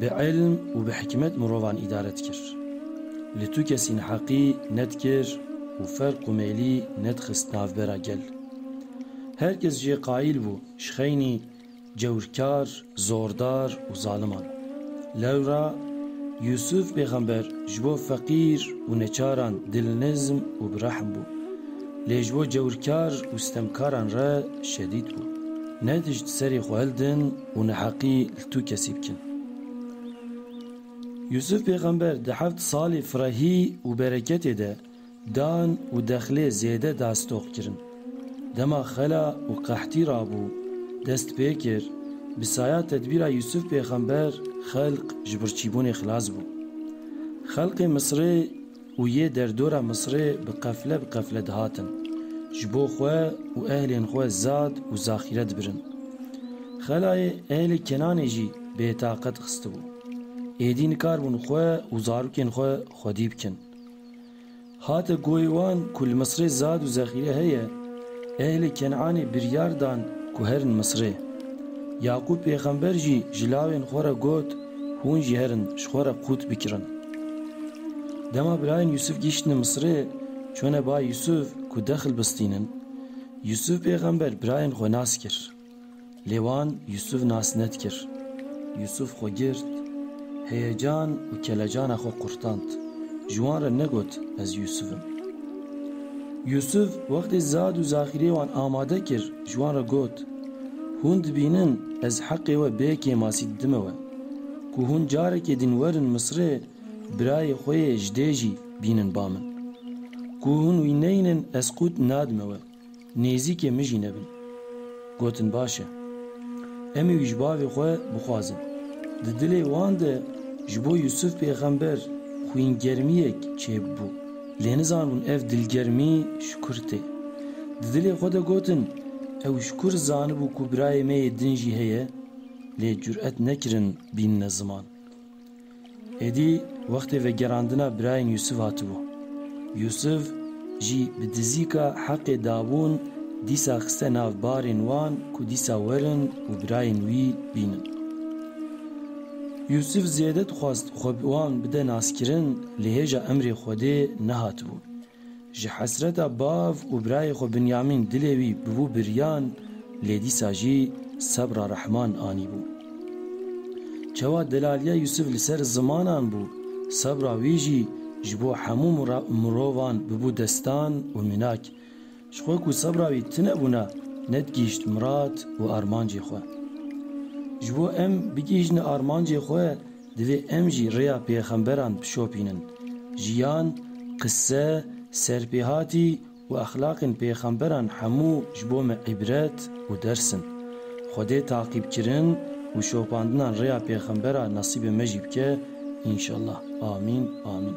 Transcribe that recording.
Bi îlm û bi hikmet mirovan îdare dikir. Li tu kesî neheqî nedikir û ferq û mêlî nedixist navbera gel. Her kes jê qayîl bû ji xeynî cewrkar, zordar û zaliman. Lewra Yûsûf pêxember ji bo feqîr û neçaran dilnizm û bi rehm bû. Lê ji bo cewrkar û sitemkaran re şedîd bû. Ne tişt serê xwe hildin, û neheqî li tu kesî bikin. Yûsûf pêxember di heft salê firehî û bereketê de dan û dexlê zêde dastoq kirin. Dema xela û qehtî rabû, dest pê kir, bi saya tedbîra Yûsûf pêxember xelq ji birçîbûnê xilas bû. Xelqê Misirê, Û yê derdora Misirê bi qefle bi qefle dihatin, ji bo xwe û ehlên xwe zad û zaxîre dibirin. Xelayê ehlê Kenanê jî bêtaqet xistibû. Êdî nikarbûn xwe û zarokên xwe xwedî bikin. Hate goyê wan ku li Misirê zad û zexîre heye, Ehlê Ken'anê biryar dan ku herin Misrê. Yaqûb pêxember jî ji lawên xwe re got, Hûn jî herin ji xwe re qût bikirin. Dema birayên Yûsûf gihîştine Misrê, çûne ba Yûsûf ku dexil bistînin. Yûsûf pêxember birayên xwe nas kir. Lê wan Yûsûf nas nedkir. Yûsûf xwe girt, heyecan û kelecana xwe qurtand. Ji wan re negot ez Yûsûf im. Yûsûf wextê zad û zaxîrê wan amade kir, ji wan re got, Hûn dibînin ez heqê we bê kêmasî didime we. Ku hûn carekê din werin Misirê, birayê xwe yê ji dê jî bînin ba min. Ku hûn wî neynin ez qût nadime we. Nêzîkê min jî nebin. Gotin baş e. Em wî ji bavê xwe bixwazin. Di dilê wan de ji bo Yûsif pêxember xwîngermiyek çêbû. Lê nizanibûn ev dilgermî ji kur tê. Di dilê xwe de gotin, Ew ji kur zanibû ku birayê me yê din jî heye? Lê curet nekirin bînine ziman. Êdî wextê vegerandina birayên Yûsif hatibû. Yûsif jî bi dizîka Heqê dabûn dîsa xiste nav barên wan ku dîsa werin û birayên wî bînin. Yûsif zêde dixwest xwe bi wan bide naskirin lê hêja emrê Xwedê nehatibûn. Ji hesreta bav û birayê xwe Binyamîn dilê wî bûbû biryan lê dîsa jî sebra rehman anîbû. Çawa delaliya Yûsif li ser zimanan bû, sebra wî jî ji bo hemû mirovan bûbû destan û mînak. Ji xwe ku sebra wî tune bûna nedgihîşt mirad û armancê xwe. Ji bo em bigihîjne armancê xwe divê em jî rêya pêxemberan bişopînin, jiyan, qise, serpêhatî û exlaqên pêxemberan hemû ji bo me îbret û ders in. Xwedê taqîbkirin û şopandinan rêya pêxembera nesîbê me jî bike înşellah. Amîn. Amîn.